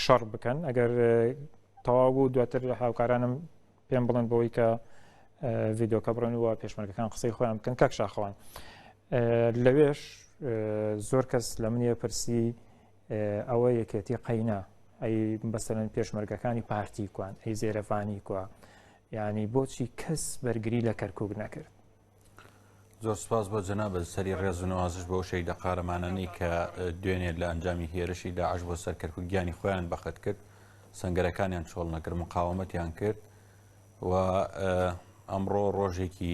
شەڕ بکەن ئەگەر تەواو بوو دواتر هاوکارانم پێم بڵند بۆی کە ڤیددیوکە بڕن وە پێشمەرگەکان قسەی خۆیان بکەن کاک شاخەوان لەوێش زۆر کەس لە منیە پرسی ئەوە یەکێتی قەینا ئەی بەسەرەن پێشمەرگەکانی پارتی کوان ئەی زێرەفانی کووە ینی بۆچی کەس بەرگری لە کەرکک نەکرد زۆر سپاس بۆ جەنابەت سەری ڕێز و نوازش بۆ شەیدە قارەمانانی کە دوێنێ لە ئەنجامی هێرشی داعش بۆ سەر کەرکک گیانی خۆیان بەخت کرد سنگەرەکانیان چۆڵ نەکرد مقاومەتیان کرد و ئەمڕۆ ڕۆژێکی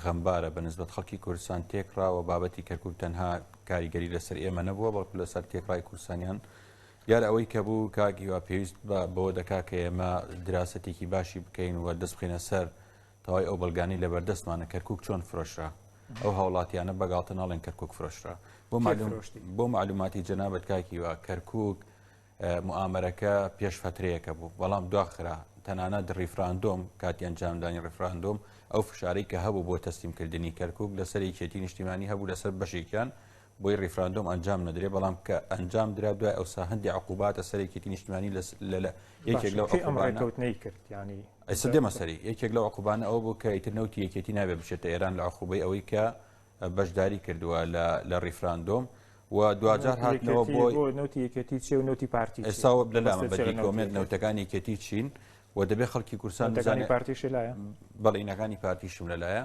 غەمبارە بە نسبت خەڵکی کوردستان تێکرا و بابەتی کەرکک تەنها کاریگەری لەسەر ئێمە نەبووە بەڵکو لەسەر تێکڕای کوردستانیان دیار ئەوەی کە بوو کاگیوا پێویست بە بۆ دەکا کە ئێمە دراستێکی باشی بکەین و دەست بخینە سەر تەوای ئەو بەڵگانەی لەبەردەستمانە کەرکوک چۆن فرۆشرا ئەو هاوڵاتیانە بەگاڵتە ناڵێن کەرکک فرۆشرا بۆ بۆ معلوماتی جەنابەت کاکیوە کەرکک موامەرەکە پێش فترەیەەکە بوو بەڵام دواخرا تەنانەت ڕیفراندۆم کاتی ئەنجامدانی ڕفراندۆم ئەو فشارەی کە هەبوو بۆ تەسلیمکردنی کەرکک لەسەر یەکێتی نیشتیمانی هەبوو لەسەر بەشێکیان بۆی ریفراندۆم ئەنجام نەدرێ بەڵام کە ئەنجام درا دوای ئەوسا هەندی عقوباتە سەرێکێتی نیشتمانی لە یەکێک لەو ئەمڕێکەوتنەی کرد ینی ئەسە دێمە سەری یەکێک لە عقوبانە ئەو بوو کە ئیتر نەوتی یەکێتی نابێ بچێتە ئێران لە عقوبەی ئەوەی کە بەشداری کردووە لە ریفراندۆم و دواجار هاتنەوە بۆ نوتی یەکێتی چێ و نوتی پارتی ئێستا لە لامە بەدیکۆمێت نەوتەکانی یەکێتی چین و دەبێ خەڵکی کورسان دەزانانی پارتیش لایە بەڵینەکانی پارتیشم لەلایە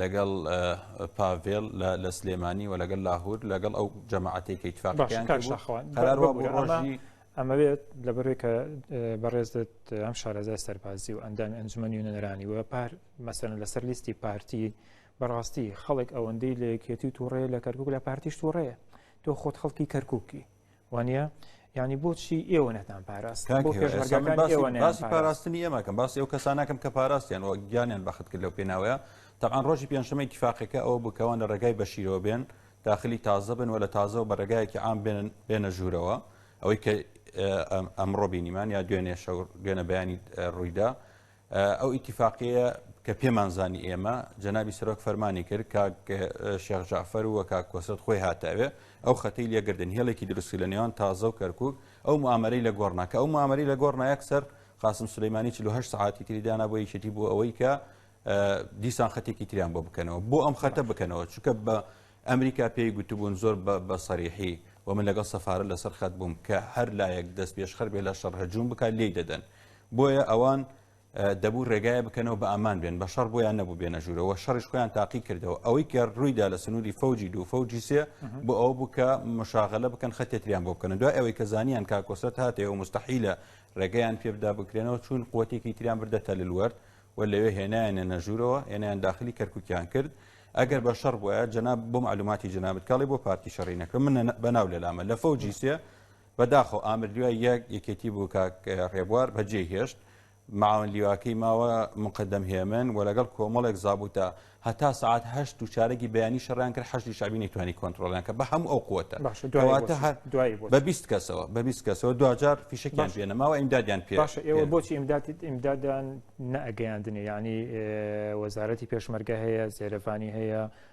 لەگەڵ پاڤێڵ لە سلێمانی و لەگەل لاهور لەگەڵ ئەو جەماعەتی کە تفاقیانڕۆژی ئەمەوێت لە بەرێ کە بەڕێزت ئەم شارەزای سەربازی و ئەندامی ئەنجومەنی و نەرانی و پار مەسەن لەسەر لیستی پارتی بەڕاستی خەڵک ئەوەندەی لە یەکێتی و تووڕێ لە کەرکک لە پارتیش تووڕەیە تۆ خۆت خەڵکی کەرککی وانە ینی بۆچی ئێوە نەتان پاراست باسی پاراستنی ئێمەکەم باسی ئەو کەسانەکەم کە پاراستیان وە گیانیان بەخت کرد لەو پێناوەیە تەقان ڕۆژی پێنجشەمەی تیفاقەکە ئەوە بکەوان لە ڕێگای بەشیرەوە بێن داخلی تازە بن و لە تازەەوە بە ڕێگایەکی ئام بێنن بێنە ژوورەوە ئەوەی کە ئەمڕۆ بینیمان یا دوێنێ شەو دوێنە بەیانی ڕوویدا ئەو ئیتیفاقیە کە پێمانزانی ئێمە جەنابی سەرۆک فەرمانی کرد کاک شێخ جعفەر و کاک کۆسرت خۆی هاتاوێ ئەو خەتی لەگردن هێڵێکی دروستی لە نێوان تازە و کەرکک ئەو معامەری لە گۆڕناکە ئەو معامەری لە گۆڕنایەک سەر قاسم سلەیمانی 48 سعاتی تریدانا بۆ یەکێتی بۆ ئەوەی کە دیسان خەتێکی تریان بۆ بکەنەوە بۆ ئەم خەتە بکەنەوە چکە بە ئەمریکا پێی گوتبوون زۆر بە سەریحی و من لەگەڵ سەفاە لەسەر خەت بووم کە هەر لایەک دەست پێشخەر بێ لە شەڕ هەجووم بکات لی دەدەن بۆیە ئەوان دەبوو ڕێگایە بکەنەوە بە ئامان بێن بە شەڕ بۆیان نەبوو بێنە ژوورەوە شەڕیش خۆیان تاقی کردەوە ئەوەی کە ڕوویدا لە سنووری فەوجی دوو فەوجی سێ بۆ ئەو بوو کە مشاغلە بکەن خەتێتریان بۆ بکەن دوای ئەوەی کە زانیان کاکۆسرەت هاتێ و مستحیلە ڕێگەیان پێبدا بکرێنەوە چون قوتێکی تریان بردە تەللوەرد و لەوێ هێنایانە نەژوورەوە هێنیان داخلی کەرکوکیان کرد ئەگەر بە شەڕ بووە جەناب بۆم علوماتی جنابەت کاڵی بۆ پارتی شەڕی نەکرد من بەناو لەلامە لە فەوجی سێ بەداخەوە ئامر لیوای یەک یەکێتی بوو کاک ڕێبوار بەجێ هێشت معاون لیواکەی ماوە مقدم هێمن و لەگەڵ کۆمەڵێک زابوتە هەتا سعات هەشت و چارەگی بەیانی شەڕیان کرد حەشی شعبی نەیتوانی کۆنتترۆلیان کە بە هەموو ئەو قوتە بە بیست کەسەوە بە بیست کەسەوە دوجار فیشکیان پێێنە ماوە ئیمدادیان پێ ئێوە بۆچی ئیمدادیت ئیمدادان نەگەیاندنێ ینی وەزارەتی پێشمەرگە هەیە زێرەفانی هەیە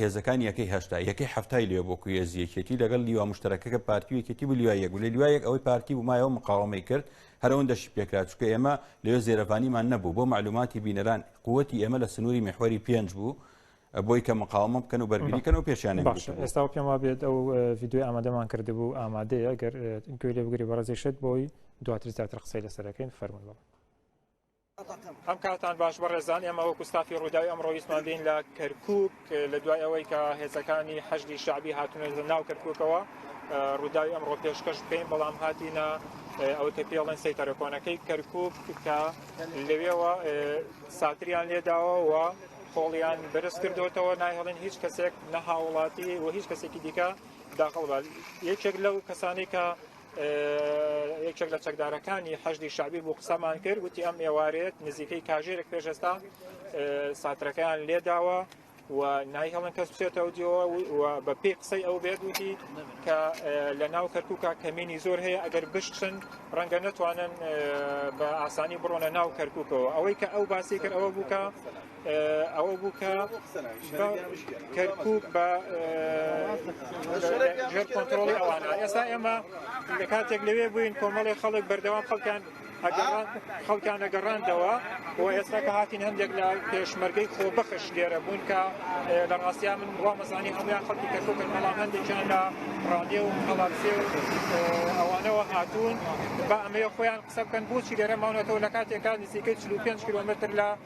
هێزەکانی یەکەی هەشتا یەکەی هەفتای لێ بۆ کوێزی یەکێتی لەگەڵ لیوا مشتەکەکە پارتی و یەکێتی بوو لیوای یەک و لە لیوای یەک ئەوەی پارتی بوو مایەوە مقاومەی کرد هەرەوەن دەشی پێکرا چکە ئێمە لەوێ زێرەڤانیمان نەبوو بۆ معلوماتی بینەران قوتی ئێمە لە سنووری میحوەری پێنج بوو بۆی کە مقاومە بکەن و بەرگریکەن و پێشیان باش ئێستا پێم وا بێت ئەو ڤیددیوی ئامادەمان کردبوو ئامادەیە گەر گوێ لێ بگری بەڕێزیشت بۆی دواتر زیاتر قسەی لەسەرەکەین فەرمونەوە ئەم کاتان باش بەڕێزان ئێمە وەکو ستافی ڕووداوی ئەمڕۆ ویستمان بین لە کەرکک لە دوای ئەوەی کە هێزەکانی حەشدی شعبی هاتونە لە ناو کەرککەوە ڕووداوی ئەمڕۆ پێشکەش بکەین بەڵام هاتینە ئەوە کە پێڵێن سی تەرەکۆنەکەی کەرکک کە لەوێەوە ساتریان لێداوە و خۆڵیان بەرز کردوتەوە نایهڵێن هیچ کەسێک نە هاوڵاتی و هیچ کەسێکی دیکە داخڵ بە یەکێک لەو کەسانی کە یەکێک لە چەکدارەکانی حەشدی شعبی بوو قسەمان کرد وتی ئەم ئێوارێت نزیکەی کاژێرێک پێشێستا ساترەکەیان لێداوە و نای هەڵن کەس بچێتەوە دیەوە و بە پێی قسەی ئەو بێت وتی کە لە ناو کەرکووکە کەمینی زۆر هەیە ئەگەر بشتن ڕەنگە نتوانن بە ئاسانی بڕۆنە ناو کەرکووکەوە ئەوەی کە ئەو باسی کرد ئەوە بووکە ئەوە بوو کە کەرکک بە ژێر کۆنتترۆڵی ئەوانە ئێستا ئێمە لە کاتێک لەوێ بووین کۆمەڵی خەڵک بەردەوام خەڵکان خەڵکان نەگەڕاندەوە و ئێستا کە هاتین هەندێک لە پێشمەرگەی خۆ بەخش لێرە بوون کە لە ڕاستیا من بڵا مەزانی هەمویان خەڵکی کەرکک بەڵام هەندێکیان لە ڕادێ و خەڵاتسێ و ئەوانەوە هاتوون بە ئەمەیە خۆیان قسە بکەن بۆچی لێرە ماونەتەوە لە کاتێکان نزیکە 45 کیلومتر لە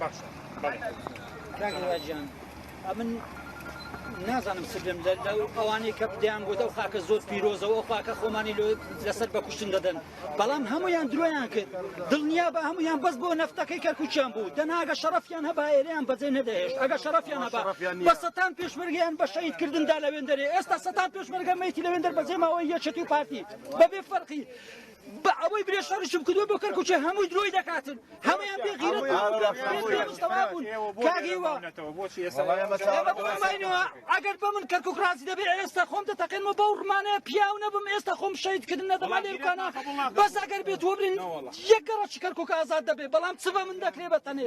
باشە بەڵێ ئەمن نازانم سرم لە ئەوانەی کە بدەیان بۆ ئەو خاکە زۆر پیرۆزەوە خاکە خۆمانی لۆ لەسەر بە کوشتن دەدەن بەڵام هەمویان درۆیان کرد دڵنیا بە هەمویان بەس بۆ نەفتەکەی کە کوچیان بوو دەناگە شەرفیان هەبا ئێریان بەجێ نەدەهێشت ئەگە شەرفیان هەبا بە سەتان پێشمەرگیان بە شەید کردندا لەوێندەرێ ئێستا سەتان پێشمەرگە مەیتی لەوێندەر بەجێ ماوەی یەکێتی و پارتی بەبێ فەرقی بە ئەوەی برێ شەڕشم کردوە بۆ کەرکوچێ هەمووی درۆی دەکاتن هەمویان بێ غیرەت ئەگەر بە من کەرکک ڕازی دەبێ ئێستا خۆم دەتەقێنمە بەو ڕمانەیە پیاو نەبم ئێستا خۆم شەیدکردن نەدەما لێکانە بەس ئەگەر بێت وەبرین یەکەڕەکی کەرکک ئازاد دەبێ بەڵام چ بە من دەکرێ بەتەنێ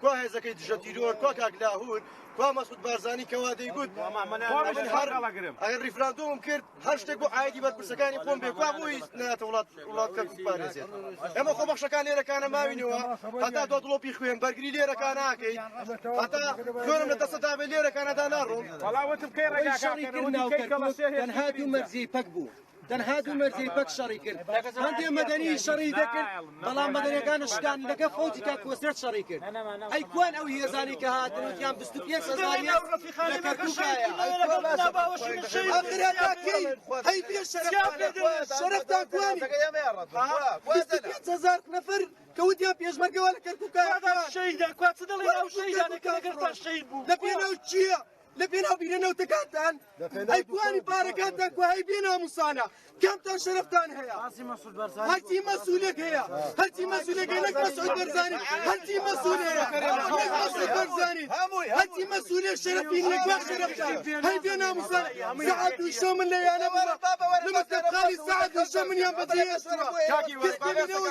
کوا هێزەکەی دژە تیرۆر کوا کاک لاهور کوا مەسعود بارزانی کەوا دەیگوت من هەر ئەگەر ریفراندۆمم کرد هەر شتێک بۆ ئایدی بەرپرسەکانی خۆم بێ کوا بۆی ناتە وڵات وڵات کەم پارێزێت ئەمە خۆ بەخشەکان لێرەکانە ماوینەوە هەتا دۆ دڵۆپی خوێن بەرگری لێرەکان ناکەیت هەتا خوێنم لە دەسەدا بێ لێرەکانەدا ناڕۆم بەڵاوەتم کەی ڕێگاکەی کردناوکەی کەڵەسێ هێنهات و مەرزی پەک بوو تەنها دوو مەرجەی پەک شەڕی کرد هەندێ مەدەنی شەڕی دەکرد بەڵام مەدەنەکان شکان لەگە فەوجی کا کۆسرەت شەڕی کرد ئەی کوان ئەو هێزانی کە هاتن وتیان بست پێ سەزانیان ڕفیخانی هەزار نەفر کەوتیا پێشمەرگەوە لە کەرکوکە شەیدا کوچ دڵی ئەو شەیدانەکە لەگەر تا شەید بوو لە پێناو چییە؟ لە پێناو بیرە نەوتەکانتان ئەیتوانی پارەکانتان کو هەی بێ ناموسانە کەمتان شەرفتان هەیە هەرچی مەسولێک هەیە هەرچی مەسولێک هەیە نەک مەسعود بەرزانی هەرچی مەسول هەیە نەک مەسعود بەرزانی هەرچی مەسولێ شەرفی نەک بە شەرفتان هەی بێ ناموسانە سەعات دوو شەو من لە یانە بڕە لە مەکتەبخانی سەعات دوو شەو منیان بەجێ ئێستوە کەس بێنەوە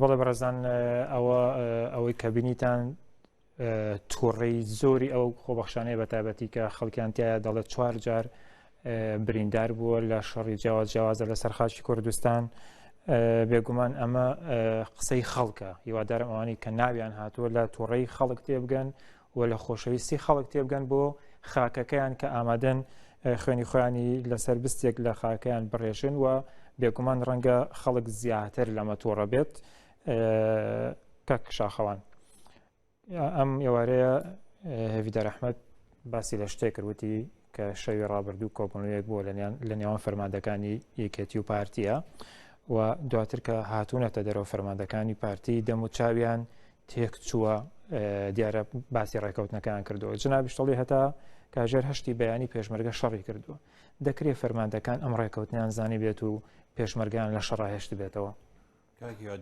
بەڵێ بەڕێزان ئەوە ئەوەی کە بینیتان تووڕی زۆری ئەو خۆبەخشانەیە بە تابەتی کە خەڵکیانتیایە دەڵێت چوار جار بریندار بووە لە شەڕی جیاواز جیاوازە لە سەرخاشی کوردستان بێگومان ئەمە قسەی خەڵکە هیوادارم ئەوانی کە ناویان هاتووە لە تووڕی خەڵک تێبگەن و لە خۆشەویستی خەڵک تێبگەن بۆ خاکەکەیان کە ئامادەن خوێنی خۆیانی لەسەر بستێک لە خاکەیان بڕێژن و بێگومان ڕەنگە خەڵک زیاتر لەمە تووڕە بێت کەک شاخەوان ئەم ئێوارەیە هێوی دەرەحمەت باسی لە شتێک کردوتی کە شەوی ڕابردوو کۆبنەوەیەک بۆ لە نێوان فەرماندەکانی یەکێتی و پارتیە و دواتر کە هاتوونەتە دەرەوە فەرماندەکانی پارتی دەم و چاویان تێکچووە، دیارە باسی ڕێکەوتنەکەیان کردووە، جنابیش دەڵێ هەتا کاژێر هەشتی بەیانی پێشمەرگە شەڕی کردووە، دەکرێت فەرماندەکان ئەم ڕێکەوتنیان زانی بێت و پێشمەرگان لە شەڕاهێشت بێتەوە.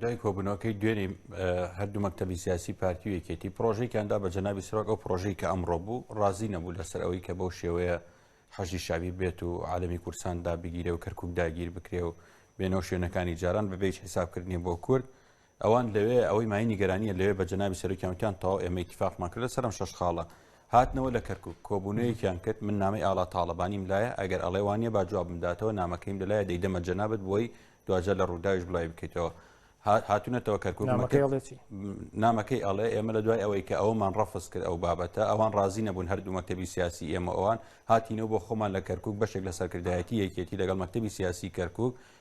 دوای کۆبنەوەکەی دوێنی هەردوو مەکتتەبی سیاسی پارتی و یەکێتی پرۆژێکیاندا بە جەنابی سرۆک ئەو پرۆژەی کە ئەمڕۆ بوو ڕازی نەبوو لەسەر ئەوەی کە بەو شێوەیە حەشی شاوی بێت و عالمی کورسان دابگیرێ و کەرکک داگیر بکرێ و بێنەوە شوێنەکانی جاران بەبێ حسابکردنی بۆ کورد ئەوان لەوێ ئەوەی مایەی نیگەرانییە لەوێ بە جەنابی سەرۆکیان وتیان تەواو ئێمە ئیتیفاقمان کرد لەسەر ئەم شەش خاڵە. هاتنەوە لە کەرکووک، کۆبوونەوەیەکیان کرد، من نامەی ئاڵا تاڵەبانیم لایە، ئەگەر ئەڵێ وا نییە با جوابم داتەوە، نامەکەیم لەلایە دەیدەمە جەنابت بۆی دواجار لە رووداویش بڵاوی بکەیتەوە. هاتونەتەوە کەرکووک نامەکەی ئەڵێ چی؟ نامەکەی ئەڵێ ئێمە لە دوای ئەوەی کە ئەومان ڕەفز کرد ئەو بابەتە، ئەوان ڕازی نەبوون هەردوو مەکتەبی سیاسی ئێمە ئەوان هاتینەوە بۆ خۆمان لە کەرکووک بەشێک لە سەرکردایەتی یەکێتی لەگەڵ مەکتەبی سیاسی کەرکووک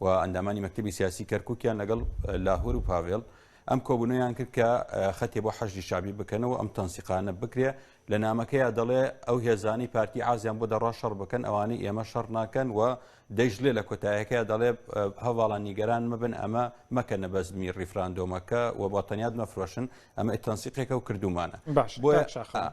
و ئەندامانی مەکتەبی سیاسی کەرکوکیان لەگەڵ لاهور و پاڤێڵ ئەم کۆبوونەیان کرد کە خەتێ بۆ حەشدی شابی بکەنەوە ئەم تەنسیقانە بکرێ لە نامەکەیە دەڵێ ئەو هێزانەی پارتی ئازیان بۆ دەڕا شەڕ بکەن ئەوانەی ئێمە شەڕ ناکەن و دەیشلێ لە کۆتایەکەی دەڵێ هەواڵە نیگەران مەبن ئەمە مەکە نەبەزمی ڕیفراندۆمەکە و بە تەنیاد مەفرۆشن ئەمە ئتەنسیقێکە و کردومانە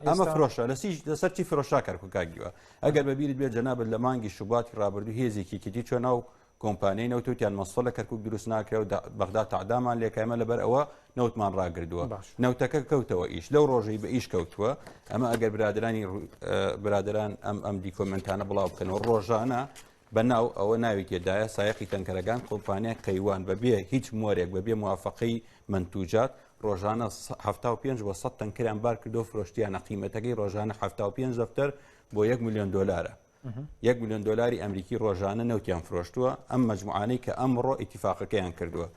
ئەمە فرۆشە لە سەرچی فرۆشا کەرککگیوە ئەگەر بە بیرت بێت جەنابت لە مانگی شوباتی ڕابردوو هێزێکی کیتی چوە ناو کۆمپانیای نەوت وتیان مەسفە لە کەرکک دروست ناکرێ و بەغدا تعدامان لێکایمە لەبەر ئەوە نەوتمان ڕاگردووە نەوتەکە کەوتەوە ئیش لەو ڕۆژەی بە ئیش کەوتووە ئەمە ئەگەر برادرانی برادران ئەم ئەم دیکۆمنتانە بڵاو بکەنەوە ڕۆژانە بە ناو ئەوە ناوی تێدایە سایەقی تەنکەرەکان کۆمپانیای قەیوان بەبێ هیچ مۆرێک بەبێ موافقەی منتوجات ڕۆژانە 75 بۆ 100 تەنکریان بار کردو فرۆشتیانە قیمەتەکەی ڕۆژانە 75 دەفتەر بۆ 1 میلیۆن دلارە. یەک میلیۆن دلاری ئەمریکی ڕۆژانە نەوتیان فرۆشتووە ئەم مجموعانەی کە ئەمڕۆ ئیتیفاقەکەیان کردووە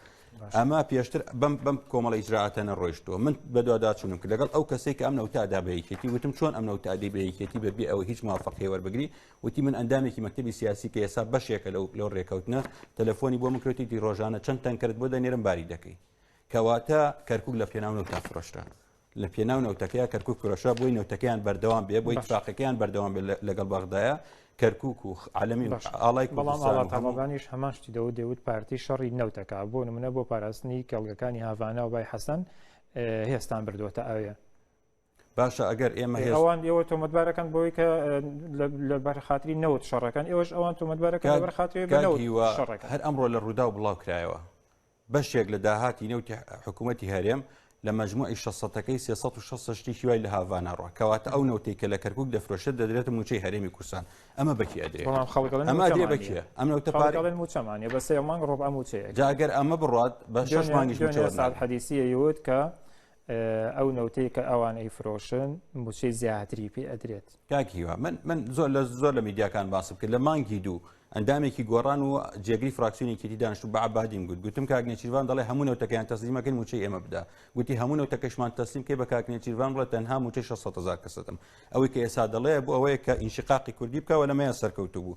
ئەمە پێشتر بم بم کۆمەڵی ئیجرراعاتە نەڕۆیشتووە من بەدوواداچونم کرد لەگەڵ ئەو کەسێک ئەم نەوتادا بەیکێتی وتم چۆن ئەم نەوتادی بەیکێتی بەبێ ئەوە هیچ مافەقێوەەر بگری وتی من ئەندامێکی مەکتتەبی سیاسی کە ئێسا بەشێکە لەو لەو ڕێکەوتنە تەلەفۆنی بۆ مکرێتیتی ڕۆژانە چەند تەنکەرت بۆ دەنێرم باری دەکەی کەواتە کەرکک لە پێناو نەوتا فرۆشرا لە پێناو نەوتەکەی کەرکک فرۆشە بۆی نەوتەکەیان بەردەوام بێ بۆی فاقەکەیان بەردەوام بێ لەگەڵ بەغدایە کەرکک و عالمی ئاڵای بەڵام ئاڵاتەمەبانیش هەماشتی دەوت دەوت پارتی شەڕی نەوتەکە بۆ نمونە بۆ پاراستنی کەڵگەکانی هاڤانە و بای حەسەن هێستان بردووەتە ئەوێ باشە ئەگەر ئێمە ئەوان ئێوە تۆمەتبارەکەن بۆی کە لە بەرخاتری نەوت شەڕەکەن ئێوەش ئەوان تۆمەتبارەکە لە بەرخاتری شەڕەکە هەر ئەمڕۆ لە ڕوودا و بڵاو کرایەوە بەشێک لە داهاتی نەوتی حکوومەتتی هەرێم لە مەجموعی 600ەکەی 360 شتێکی وای لە هاڤاناڕە کەواتە ئەو نەوتی کە لە کەرکک دەفرۆشێت دەدرێت موچەی هەرێمی کوردستان ئەمە بەکی ئەدرێ بەکیە ئەم موچەمانە بە سێ مانگ ڕۆب ئەم موچەیە جاگەر ئەمە بڕات بە شش مانگیش حەدیسیەوت کە ئەو نەوتەی کە ئەوان ئەیفرۆشن موچەی زیاتری پێ ئەدرێت کاک هیوا من من زۆر لە زۆر لە میدیاکان باسم کرد لە مانگی دوو ئەندامێکی گۆڕان و جێگری فراکسیونێکی دی دانیشت و بەعبادیم گوت گوتم کاک نێچیروان دەڵێ هەموو نەوتەکەیان تەسلیمەکەی موچەی ئێمە بدا گوتی هەموو نەوتەکەشمان تەسلیم کەی بە کاک نێچیروان بڵێ تەنها موچەی 600 هزار کەسەتم ئەوەی کە ئێسا دەڵێ بۆ ئەوەیە کە ئینشقاقی کوردی بکەوە لەمەیە سەرکەوتو بوو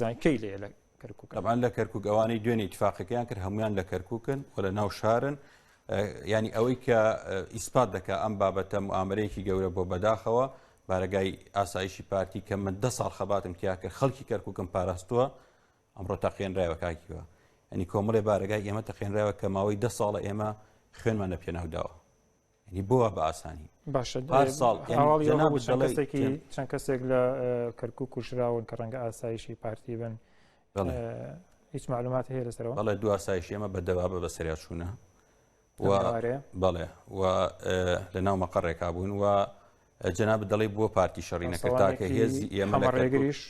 زان کەی لێ لە ئەمان لە کەرکک ئەوانەی دوێنێ تفاقەکەیان کرد هەمویان لە کەرککن و لە ناو شارن ینی ئەوەی کە ئیسپات دەکە ئەم بابەتە و ئامرەیەکی گەورە بۆ بەداخەوە بارگای ئاسایشی پارتی کە من ده ساڵ خەباتم تیا کرد خەڵکی کەرککم پاراستووە ئەمڕۆ تەقێنراوە کاکیوە ئەنی کۆمەڵێ بارگای ئێمە تەقێنراوە کە ماوەی ده ساڵە ئێمە خوێنمان لە پێناوداوە ینی بۆە بە ئاسانی باشە ساڵ چەند کەسێک لە کەرکک و کوشراون کە ڕەنگە ئاسایشی پارتی بن هیچ معلومات هەیە لەسەرەوە بەڵێ دو ئاسایشی ئەمە بە دەوابە بە سریاچوونە بەڵێ و لە ناو مەقەڕێکا بوون و جەنابت دەڵێ بووە پارتی شەڕی نەکرد تاکە هێزی ئێمە لە ڕێگریش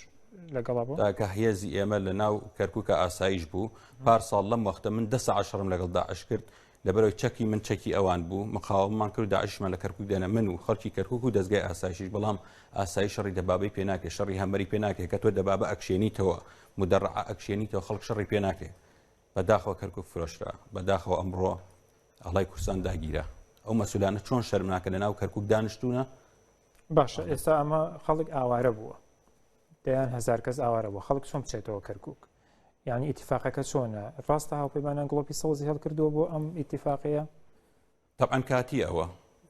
تاکە هێزی ئێمە لە ناو کەرککە ئاسایش بوو پار ساڵ لەم وەختە من دە عشرم لەگەڵ داعش کرد لەبەرەوەی چەکی من چەکی ئەوان بوو مقاوممان کرد داعشمان لە کەرکک دێنە من و خەڵکی کەرکک و دەستگای ئاسایشیش بەڵام ئاسایی شەڕی دەبابی پێ ناکرێت شەڕی هەمەری پێ ناکرێت کە تۆ دەبابە ئەکشێنیتەوە مدەڕع ئەکشێنیتەوە خەڵک شەڕی پێ ناکرێت بەداخەوە کەرکک فرۆشرا بەداخەوە ئەمڕۆ ئەڵای کوردستان داگیرە ئەو مەسولانە چۆن شەرمناکە لە ناو کەرکک دانیشتونە باشە ئێستا ئەمە خەڵک ئاوارە بووە دەیان هزار کەس ئاوارە بووە خەڵک چۆن بچێتەوە کەرکک یعنی ئیتفاقەکە چۆنە ڕاستە هاوپەیمانان گڵۆپی سەوزی هەڵکردووە بۆ ئەم ئیتفاقەیە تەبعەن کاتی ئەوە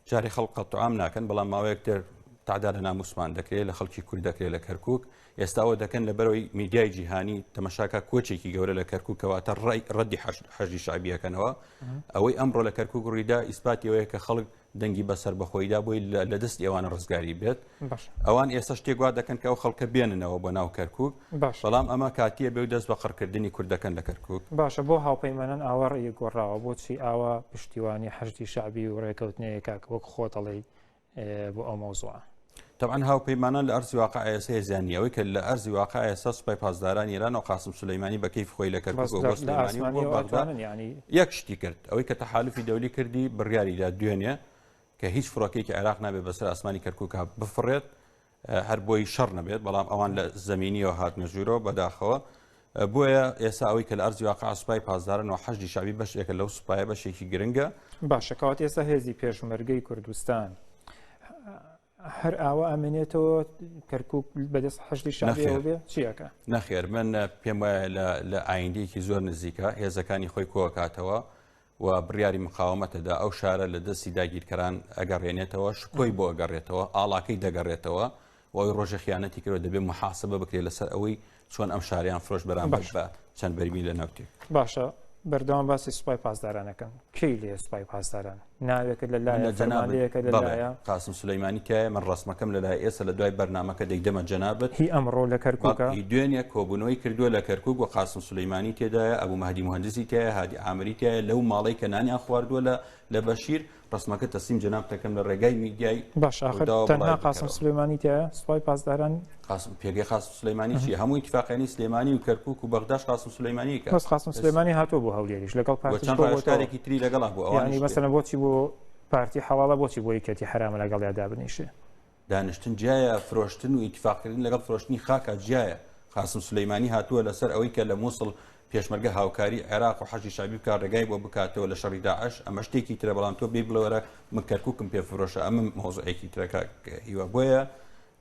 جارێ خەڵک قەتعام ناکەن بەڵام ماوەیەک تر تعدا لە ناموسمان دەکرێت لە خەڵکی کورد دەکرێت لە کەرکک ئێستاوە دەکەن لە بەرەوەی میدیای جیهانی تەمەشاکە کۆچێکی گەورە لە کەرکک کەواتە ڕای ڕەدی حەژی شعبیەکەنەوە ئەوەی ئەمڕۆ لە کەرکک ڕیدا ئیسپاتیەوەیە کە خەڵک دەنگی بەسەر بەخۆیدا بۆی لە دەست ئێوانە ڕزگاری بێت ئەوان ئێستا شتێک وا دەکەن کە ئەو خەڵکە بێننەوە بۆ ناو کەرکک بەڵام ئەمە کاتیە بێ و دەست بە قڕکردنی کوردەکەن لە کەرکک باشە بۆ هاوپەیمانان ئاوەڕی گۆڕاوە بۆچی ئاوا پشتیوانی حەشتی شعبی و ڕێکەوتنەیەکە وەک خۆتەڵی بۆ ئەو مەوزوعە طبعا هاوپەیمانان لە ئەرزی واقع ئێستا هێزیانی ئەوەی کە لە ئەرزی واقع ئێستا سوپای پاسداران ایران و قاسم سلەیمانی بە کەیف خۆی لە کەرکک یەک شتی کرد ئەوەی کە تەحالفی دەولی کردی بڕیاریدا دوێنێ کە هیچ فڕۆکەیەکی عێراق نابێت بەسەر ئاسمانی کەرکووکا بفڕێت هەر بۆی شەڕ نەبێت بەڵام ئەوان لە زمینیەوە هاتنە ژوورەوە بەداخەوە بۆیە ئێستا ئەوەی کە لە ئەرزی واقع سوپای پاسدارن و حەشدی شاوی بەشێکە لەو سوپایە بەشێکی گرنگە باشەکەات ئێستا هێزی پێشمەرگەی کوردستان هەر ئاوا ئەمێنێتەوە کەرکک بەدەست حشتی شاخێ چیەکە نەخێر من پێم وایە لە ئایندێکی زۆر نزیکە هێزەکانی خۆی کۆکاتەوە و بڕیاری مقاومەتە دا، ئەو شارە لە دەستی داگیرکەران ئەگەڕێنێتەوە، شکۆی بۆ ئەگەڕێتەوە، ئاڵاکەی دەگەڕێتەوە و ئەوی ڕۆژێ خیانەتی کردوە دەبێ موحاسەبە بکرێ لە سەر ئەوەی چۆن ئەم شاریان فرۆش بەرامبەر بە چەند بەرمی لە نەوتێک. باشە بەردەوام باسی سوپای پاسدارانەکەن کەی لێ سوپای پاسداران ناوێکە لە لایە جەنابێکە لە لایە قاسم سلەیمانی تایە من ڕسمەکەم لە لای ئێستا لە دوای بەرنمەکە دەیدەمە جەنابەت هی ئەمڕۆ لە کەرکوکە دوێنێ کۆبوونەوەی کردووە لە کەرکک و قاسم سلەیمانی تێدایە ئەبوو مەهدی مهندزی تایە هادی ئامریکایە لەو ماڵەی کە نانیان خواردووە لە لە بەشیر ڕسمەکە تەسلیم جەنابت دەکەم لە ڕێگای میدیای باش ئاخر ڕووداوە تەنها بڵاوی قاسم بکەرەوە. سلێمانی تایە سوپای پاسداران قاسم پێگەی قاسم سلەیمانی چیە هەموو ئیتفاقیانی سلێمانی و کەرکوک و بەغداش قاسم سلەیمانی کە بەس قاسم سلێمانی هاتووە بۆ هەولێریش لەگەڵ و پارتیش چەند بۆ بۆتەوە ڕاوێژکارێکی تری لەگەڵا بوو یعنی ئەوانیش مەسەلەن بۆچی بۆ پارتی حەڵاڵە بۆچی بۆ یەکێتی حەرامە لەگەڵیادا بنیشێ دانیشتن جیایە فرۆشتن و ئیتفاقکردن لەگەڵ فرۆشتنی خاکە جیایە قاسم سلەیمانی هاتووە لەسەر ئەوەی کە لە مووسڵ پێشمەرگە هاوکاری عێراق و حەشی شابی بکە ڕێگای بۆ بکاتەوە لە شەڕی داعش ئەمە شتێکی ترە بەڵام تۆ بێ بڵێوەرە من کەرککم پێ فرۆشە ئەمە مۆزعێکی ترەکە هیوا بۆیە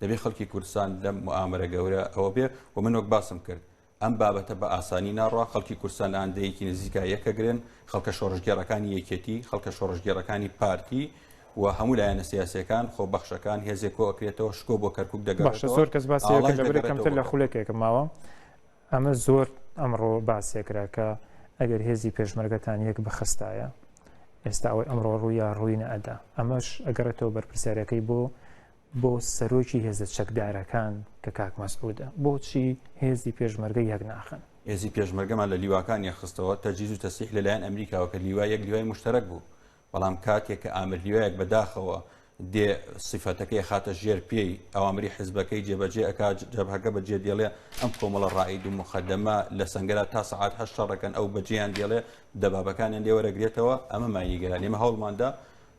دەبێ خەڵکی کوردستان لەم ئامرە گەورە ئەوە بێ و من وەک باسم کرد ئەم بابەتە بە ئاسانی ناڕوا خەڵکی کورسان ئاندەیەکی نزیکا یەکەگرن خەڵکە شۆڕژگێڕەکانی یەکێتی خەڵکە شۆڕژگێڕەکانی پارتی و هەموو لایەنە سیاسەکان خۆ بەخشەکان هێزێک کۆکرێتەوە شکۆ بۆ کەرکک دەگەڕێت زۆر کەس باسی کەمتر لە خولەکێکە ماوە ئەمە زۆر ئەمڕۆ باسێکرا کە ئەگەر هێزی پێشمەرگەتان یەک بخستایە ئێستا ئەوەی ئەمڕۆ ڕوویا ڕووینە ئەدا ئەمەش ئەگەڕێتەوە بەرپرسیارەکەی بۆ بۆ سەرۆکی هێزە چەکدارەکان کە کاک مەسعودە بۆچی هێزی پێشمەرگە یەک ناخەن؟ هێزی پێشمەرگەمان لە لیواکان یەک خستەوە تەجهیز و تەسلیح لە لایەن ئەمریکاوە کە لیوای یەک لیوای موشتەرەک بوو بەڵام کاتێک کە ئامر لیوایەک بە داخەوە دێ سیفەتەکەی ئەخاتە ژێر پێی ئەوامری حزبەکەی جێبەجێ ئەکات جەبهەکە بە جێ دێڵێ ئەم کۆمەڵە ڕائید و مخەدەمە لە سەنگەرا تا سەعات هەشت شەڕەکەن ئەو بەجێیان دێڵێ دەبابەکانیان لێوەرەگرێتەوە ئەمەمان نیگەرانە ئێمە هەوڵماندا